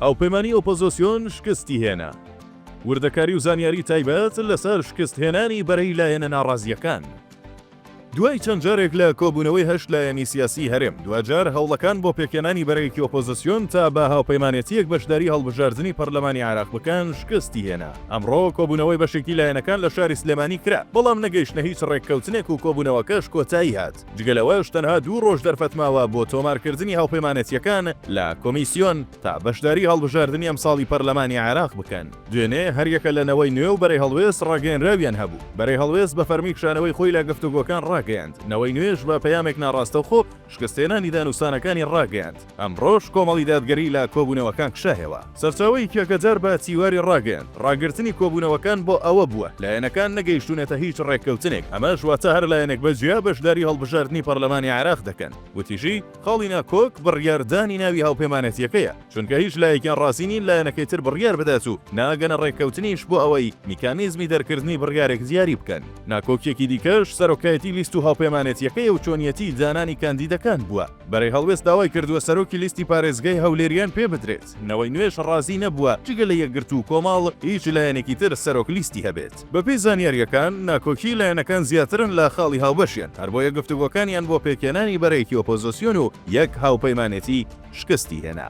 هاوپەیمانی ئۆپۆزۆسیۆن شکستی هێنا. وردەکاری و زانیاری تایبەت لەسەر شکست هێنانی بەرەی لایەنە ناڕازییەکان. دوای چەند جارێک لە کۆبوونەوەی هەشت لایەنی سیاسی هەرێم، دواجار هەوڵەکان بۆ پێکهێنانی بەرەیەکی ئۆپۆزۆسیۆن تا بە هاوپەیمانێتییەک بەشداری هەڵبژاردنی پەرلەمانی عێراق بکەن شکستی هێنا. ئەمڕۆ کۆبوونەوەی بەشێکی لایەنەکان لە شاری سلێمانی کرا، بەڵام نەگەیشتنە هیچ رێککەوتنێک و کۆبوونەوەکەش کۆتایی هات. جگە لەوەش تەنها دوو ڕۆژ دەرفەت ماوە بۆ تۆمارکردنی هاوپەیمانێتییەکان لە کۆمیسیۆن تا بەشداری هەڵبژاردنی ئەمساڵی پەرلەمانی عێراق بکەن. دوێنێ هەریەکە لە نەوەی نوێ و بەرەی هەڵوێست ڕاگەیەنراویان هەبوو. بەرەی هەڵوێست بە فەرمی کشانەوەی خۆی لە گفتوگۆکان ڕاگەیاند، نەوەی نوێش بە پەیامێک ناڕاستەوخۆ شکستهێنانی دانوستانەکانی ڕاگەیاند. ئەمڕۆش کۆمەڵی دادگەری لە کۆبوونەوەکان کشایەوە. سەرچاوەی کێکەجار بە تیواری ڕاگەیاند، ڕاگرتنی کۆبوونەوەکان بۆ ئەوە بووە لایەنەکان نەگەیشتوونەتە هیچ ڕێککەوتنێک، ئەمەش واتە هەر لایەنێک بە جیا بەشداری هەڵبژاردنی پەڕلەمانی عێراق دەکەن. وتیشی، خاڵی ناکۆک بڕیاردانی ناوی هاوپەیمانێتییەکەیە، چونکە هیچ لایەکیان ڕازی نین لایەنەکەی تر بڕیار بدات و ناگەنە ڕێککەوتنیش بۆ ئەوەی میکانیزمی دەرکردنی بڕیارێک دیاری بکەن. ناکۆکییەکی دیکەش سەرۆکایەتی لیست و هاوپەیمانێتییەکەیە و چۆنیەتیی دانانی کاندیدەکان بووە. بەرەی هەڵوێست داوای کردووە سەرۆکی لیستی پارێزگای هەولێریان پێ بدرێت، نەوەی نوێش رازی نەبووە جگە لە یەکگرتوو و کۆمەڵ هیچ لایەنێکی تر سەرۆک لیستی هەبێت، بەپێی زانیارییەکان ناکۆکیی لایەنەکان زیاترن لە خاڵی هاوبەشیان، هەربۆیە گفتوگۆکانیان بۆ پێکهێنانی بەرەیەکی ئۆپۆزۆسیۆن و یەک هاوپەیمانێتی شکستی هێنا.